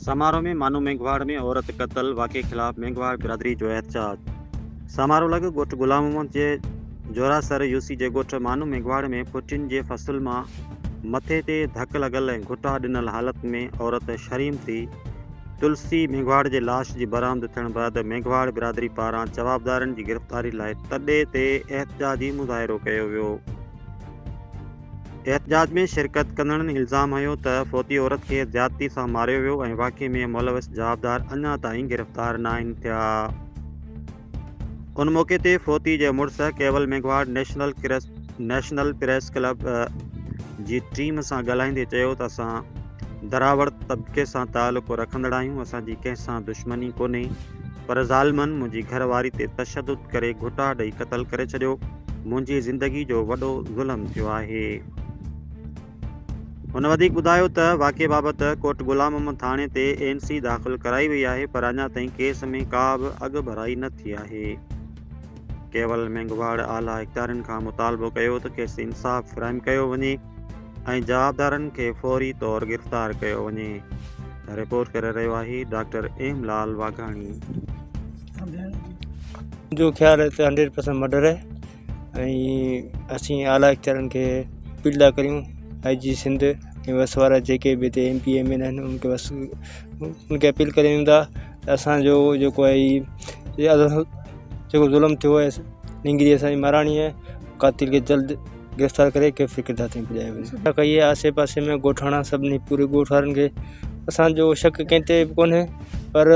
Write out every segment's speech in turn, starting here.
سامارو ۾ مانو مينگهواڙ ۾ عورت قتل واقعي خلاف مينگهواڙ برادري جو احتجاج سامارو لڳ ڳوٺ غلام محمد جي جورا سر يوسي جي ڳوٺ مانو مينگهواڙ ۾ پوٽين جي فصل مان مٿي تي ڌڪ لڳل ۽ گهٽا ڏنل حالت ۾ عورت شريمتي تلسي مينگهواڙ جي لاش جي برآمد ٿيڻ بعد مينگهواڙ برادري پاران جوابدارن جي گرفتاري لاء تڏي تي احتجاجي مظاهرو ڪيو ويو. احتجاج ۾ شرڪت ڪندڙن الزام هنيو ته فوتي عورت کي زيادتي سان ماريو ويو ۽ واقعي ۾ ملوث جوابدار اڃا تائين گرفتار ناهن ٿيا. ان موقعي تي فوتي جي مڙس ڪيول ميگهواڙ نيشنل ڪرس نيشنل پريس ڪلب جي ٽيم سان ڳالهائيندي چيو ته اسان دراوڙ طبقي سان تعلق رکندڙ آهيون اسان جي ڪنهن سان دشمني ڪونهي پر ظالمن منهنجي گهر واري تي تشدد ڪري گهٽا ڏئي قتل ڪري ڇڏيو منهنجي زندگي جو وڏو ظلم ٿيو آهي. هن وڌيڪ ٻڌايو ته واقعي بابت ڪوٽ غلام محمد ٿاڻي تي اين سي داخل ڪرائي وئي آهي پر اڃا تائين ڪيس ۾ ڪا به اڳڀرائي نه ٿي آهي. ڪيول مينگهواڙ اعليٰ اختيارين کان مطالبو ڪيو ته کيس انصاف فراهم ڪيو وڃي ۽ جوابدارن کي فوري طور گرفتار ڪيو وڃي. رپورٽ ڪري رهيو آهي ڊاڪٽر ايم لال واگهاڻي. جو خيال هتي هنڊريڊ پرسنٽ مڊر آهي ۽ اسين اعليٰ اختيارين کي اپيل ٿا ڪريون آء جي سنڌ ۽ وس وارا جيڪي به هتي M P M N A آهن ان کي بس ان کي اپيل ڪريون ٿا ته اسانجو جيڪو آهي هي جيڪو ظلم ٿيو آهي نينگري اسانجي مهراڻي آهي قاتل کي جلد گرفتار ڪري ڪيفري ڪردار تائين پڄايو وڃي ڪئي آهي آسي پاسي ۾ ڳوٺاڻا سڀني پوري ڳوٺ وارن کي اسانجو شڪ ڪنهن تي به ڪونهي پر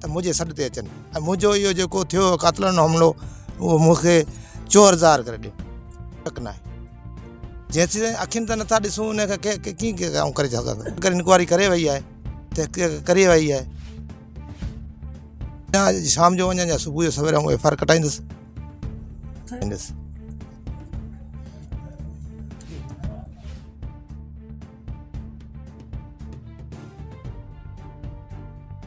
ته منهنجي سڏ تي اچن ۽ منهنجو اهو جيڪو ٿيو قاتلانو حملو اهو مون کي چور ظاهر ڪري ڏيو شڪ ناهي جيسين اکين ته نٿا ڏسون ان کي ڪيئن ڪري سگهنداسين اگر انڪوائري ڪري وئي آهي تحقيق ڪري وئي آهي شام جو وڃان يا صبح جو سوير آئون ايف آر ڪٽائيندس ڪٽائيندس